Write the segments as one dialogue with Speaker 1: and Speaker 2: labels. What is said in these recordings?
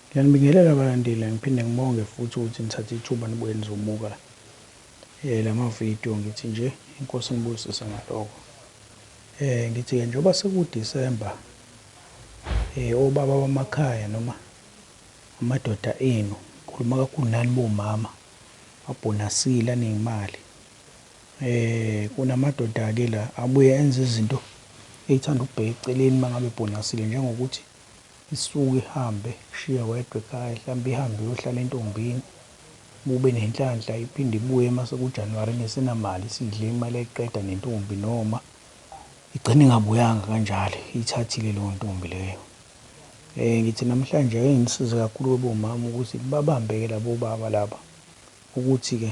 Speaker 1: Ngiyanibingelela balandeli ngiphinde ngibonge futhi ukuthi nithathe ithuba nibuye nizobuka lama video ngithi nje inkosi inibusise ngaloko ngithi ke njengoba seku December obaba bamakhaya noma amadoda enu ngikhuluma kakhulu nani bomama abhonasile aneyimali kunamadoda ke la abuye enze izinto eyithanda ukubheka eceleni mangabe ebhonasile njengokuthi Isuke ihambe ikushiye wedwa ekhaya hlampe ihambe iyohlala entombini uma ubenenhlanhla iphinde ibuye uma sekuJanuwari ingesenamali isidle imali yayiqeda nentombi noma igcine ingabuyanga kanjalo iyithathile leyo ntombi leyo. Eh ngithi namhlanje ake nginisize kakhulu-ke bomama ukuthi babambe-ke labo baba laba ukuthi-ke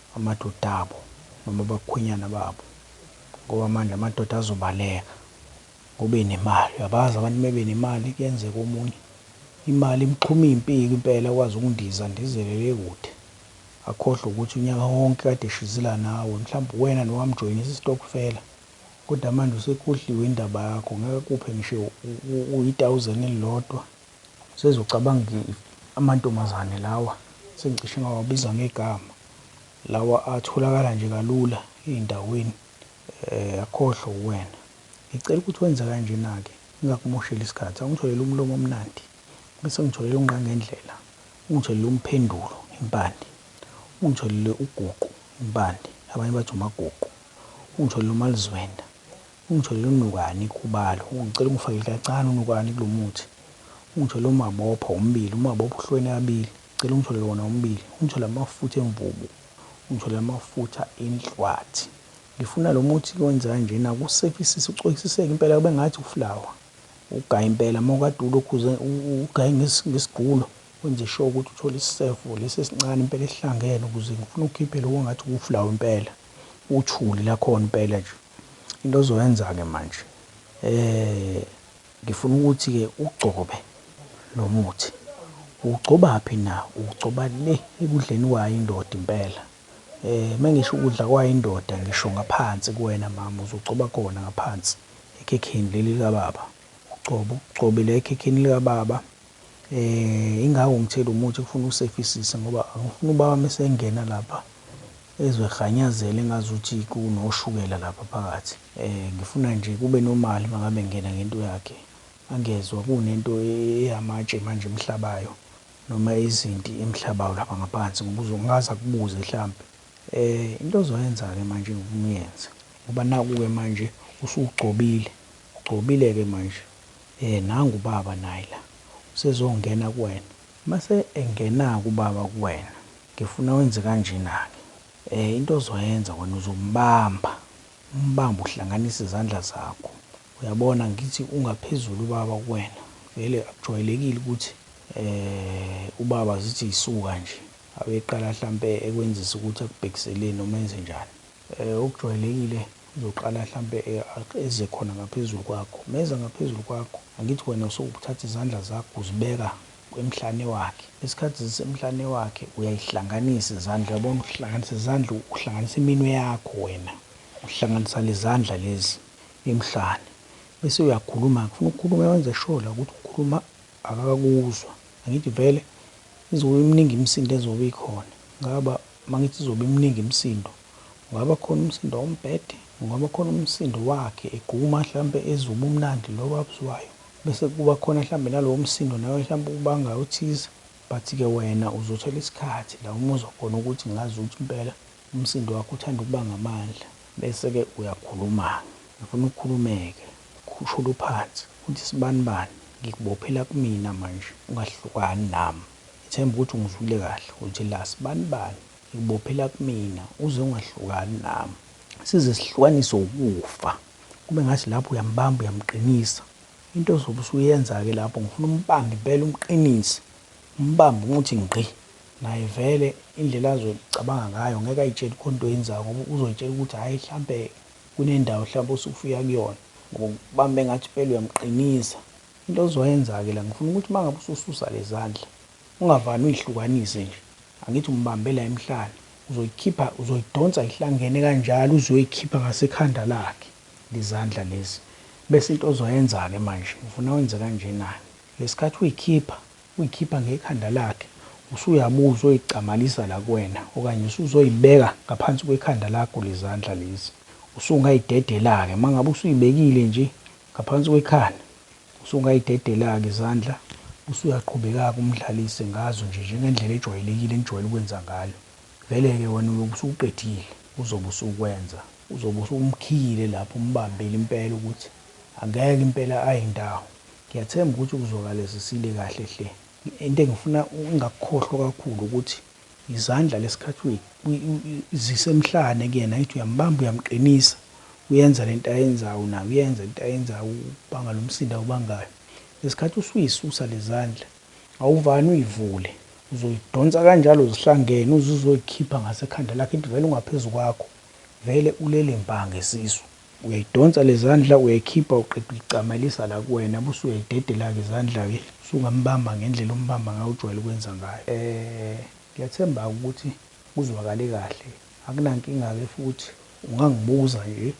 Speaker 1: amadoda abo noma abakhwenyana babo ngoba manje amadoda azobaleka ngobe nemali uyabazi abantu mebe nemali kuyenzeka omunye imali imxhuma impiko impela kwazi ukundiza ndizele le kude akhohlwe ukuthi unyaka wonke kade eshizila nawe mhlawumbe uwena nowamjoyinisa istokfela kodwa manje usekhohliwe indaba yakho ngeke akuphe ngisho uyi 1000 elilodwa Sesi ucabanga ukuthi amantombazane lawa sengicishe ngawabiza ngegama lawa atholakala nje kalula ezindaweni eh akhohlwa uwena. Ngicela ukuthi wenze kanjena ke ngingakumosheli isikhathi awungitholele umlomo omnandi bese ungitholele ungqangendlela, ungitholele umphendulo impande, ungitholele uguqu impande abanye bathi umaguqu, ungitholele umalizwenda Ungitholele unukani ikhubalo. Ngicela ungifakele kacane unukani kulo muthi. Ungitholele umabopha womibili. Umabopha uhlukene kabili. Ngicela ungitholele wona womibili. Ungitholele amafutha emvubu. Ungitholele amafutha enhlwathi. Ngifuna lo muthi-ke owenza kanjena, ukusefisise, ucwekisiseke impela kube ngathi uflawa. Ugaye impela. Uma ukade ulokhu ugaye ngesigqulo, wenze sure ukuthi uthola isisefo lesi esincane impela esihlangene ukuze ngifuna ukhiphe lokhu ongathi wuflawa impela. Uthuli lakhona impela nje. Into ozoyenza ke manje ngifuna ukuthi ke ugcobe lo muthi. Uwugcobaphi na? Uwugcoba le ekudleni kwayo indoda impela. Uma ngisho ukudla kwayo indoda ngisho ngaphansi kuwena mama, uzogcoba khona ngaphansi ekhekheni leli likababa. Ugcobe, ugcobe la ekhekheni likababa. Ingako ngithela umuthi kufuna usefisise ngoba angifuni ubaba uma esengena lapha Ezwe kghanyazela engazuthi kunoshukela lapha phakathi. Ngifuna nje kube normal mangabe ngingena ngento yakhe. Angezwa kunento eyamatshe manje emhlabayo noma izinti emhlabayo lapha ngaphansi ngoba uzongaze akubuze hlampe. Into ozoyenza ke manje ngifuna uyenze ngoba naku ke manje usugcobile, ugcobile ke manje nangu ubaba naye la usezongena kuwena. Mase engenake ubaba kuwena ngifuna wenze kanjenake into ozoyenza wena uzombamba umbambe uhlanganise izandla zakho uyabona ngithi ungaphezulu ubaba kuwena vele akujwayelekile ukuthi ubaba zithi yisuka nje abeqala hlampe ekwenzisa ukuthi akubhekiseleni noma enze njani Okujwayelekile uzoqala hlampe eze khona ngaphezulu kwakho. Meza ngaphezulu kwakho, angithi wena usukuthatha izandla zakho uzibeka emhlane wakhe. Isikhathi zisemhlane wakhe uyayihlanganisa izandla, uyabona uhlanganisa izandla uhlanganisa iminwe yakho wena. Uhlanganisa lezandla lezi emhlane. Bese uyakhuluma-ke, ufuna ukukhuluma wenze sure la ukuthi ukhuluma akakakuzwa. Angithi vele izobe imningi imisindo ezobe ikhona. Ngaba Uma ngithi izobe imningi imisindo, kungaba khona umsindo wombhede, kungaba khona umsindo wakhe eguma hlampe ezwa ubumnandi lobu abuzwayo, bese kuba khona hlampe nalowo msindo nawe hlampe ukubangayo othize, but ke wena uzothola isikhathi la umuzwa khona ukuthi ngazi ukuthi impela umsindo wakho uthanda ukuba ngamandla, bese ke uyakhulumake, ngifuna ukhulumeke, ukhushule uphansi, uthi sibanibani, ngikubophela kumina manje, ungahlukani nami. Ngithemba ukuthi ungizwile kahle, uJealous. Bani bani? Ngikubophela kumina, uze ungahlukani nami. Size sihlukaniswe ukufa. Kube ngathi lapho uyambamba, uyamqinisa. Into ozobe usuyenza-ke lapho, ngifuna umbambe impela, umqinise. Umbambe umuthi ngqi. Naye vele, indlela azocabanga ngayo, ngeke ayitsheli khona into oyenzayo, ngoba uzoyitshela ukuthi hhayi, hlampe kunendawo hlampe osuke uya kuyona. Ngoba ukubamba engathi impela uyamqinisa. Into ozoyenzake la ngifuna ukuthi mangabe usususa lezandla ungavani uyihlukanise nje angithi umbambe la emhlane uzoyikhipha uzoyidonsa ihlangene kanjalo uze uyoyikhipha ngasekhanda lakhe lezandla lezi bese into ozoyenzake manje ngifuna wenze kanjena ngesikhathi uyikhipha uyikhipha ngekhanda lakhe usuyabuya uzoyigcamalisa la kuwena okanye usuzoyibeka ngaphansi kwekhanda lakho lezandla lezi usungayidedelake mangabe usuyibekile nje Ngaphansi kwekhanda, usungayidedela-ke izandla usuyaqhubeka-ke umdlalise ngazo nje njengendlela ejwayelekile enijwayele ukwenza ngayo. Vele-ke wena uyobe usukuqedile, uzobe usukwenza. Uzobe usuwumkhiyile lapho, umbambile impela ukuthi angeke impela aye ndawo. Ngiyathemba ukuthi kuzwakala zisile kahle hle. Into engifuna ungakukhohlwa kakhulu ukuthi izandla lesikhathi uyi uyi uyi zise emhlane kuyena ithi uyambamba uyamqinisa uyenza lento ayenzawu naye uyenza into ayenzawu ukubanga lomsindo awubangayo lesikhathi usuyisusa lezandla awuvani uyivule uzoyidonsa kanjalo zihlangene uze uzoyikhipha ngasekhanda lakhe ithi vele ungaphezu kwakho vele ulele mbha ngesisu. Uyayidonsa lezandla uyayikhipha uqede uyicamelisa la kuwena bese uyayidedelake izandlake usungambamba ngendlela ombamba ngayo ojwayele ukwenza ngayo ngyathembake ukuthi kuzwakale kahle akunankinga-ke futhi ungangibuza nje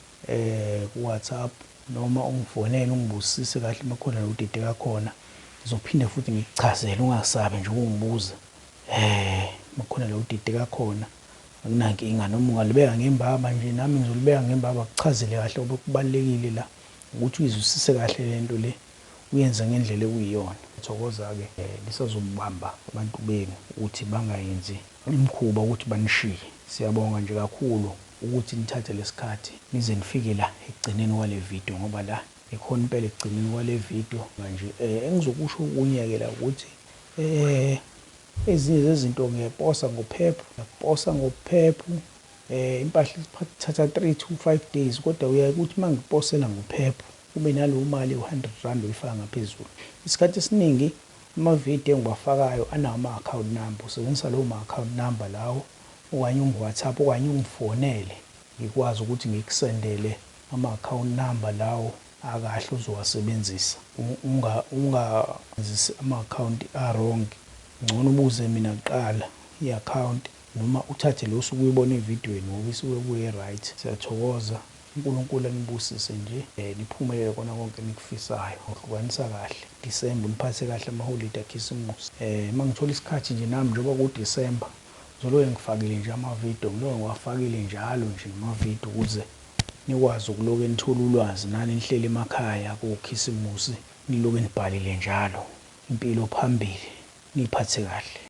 Speaker 1: ku WhatsApp noma ungifonele ungibuzisise kahle makukhona la udideka khona ngizophinde futhi ngikuchazele ungasabi nje ukungibuza makukhona la udideka khona. Akunankinga noma ungalibeka ngembaba nje nami ngizolibeka ngembaba kuchazele kahle ngoba okubalulekile la ukuthi uyizwisise kahle lento le uyenze ngendlela ekuyiyona. Thokoza ke lisazobamba abantu benu ukuthi bangayenzi imkhuba ukuthi banishiye. Siyabonga nje kakhulu ukuthi nithathe lesikhathi nize nifike la ekugcineni kwale video ngoba la ikhona impela ekugcineni kwale video. Manje engizokusho okunye ke la ukuthi. Ezinye zezinto ngiyaposa ngophephu, ngiyaposa ngophephu impahla ithatha three to five days kodwa kuyaye kuthi uma ngiposela ngophephu kube naleyo mali ewu-hundred rand oyifaka ngaphezulu. Isikhathi esiningi ama-video engiwafakayo anawo ama-account number, usebenzisa lawo ma-account number lawo okanye ungi-WhatsApp okanye ungifonele ngikwazi ukuthi ngikusendele ama-account number lawo. akahle ozowasebenzisa unga unga zisi ama account a wrong ngcono ubuze mina kuqala i account noma uthathe le osuke uyibona evidweni ngoba isuke kuyo e right siyathokoza unkulunkulu anibusise nje niphumelele kona konke enikufisayo ngohlukanisa kahle December uniphathe kahle ama holide akhisimusi um mangithola isikhathi nje nami njengoba ku December ngizoloke ngifakile nje ama video ngiloke ngiwafakile njalo nje ama video ukuze nikwazi ukuloke nithola ulwazi nani nihleli emakhaya kokhisimusi niloke nibhalile njalo impilo phambili niphathe kahle.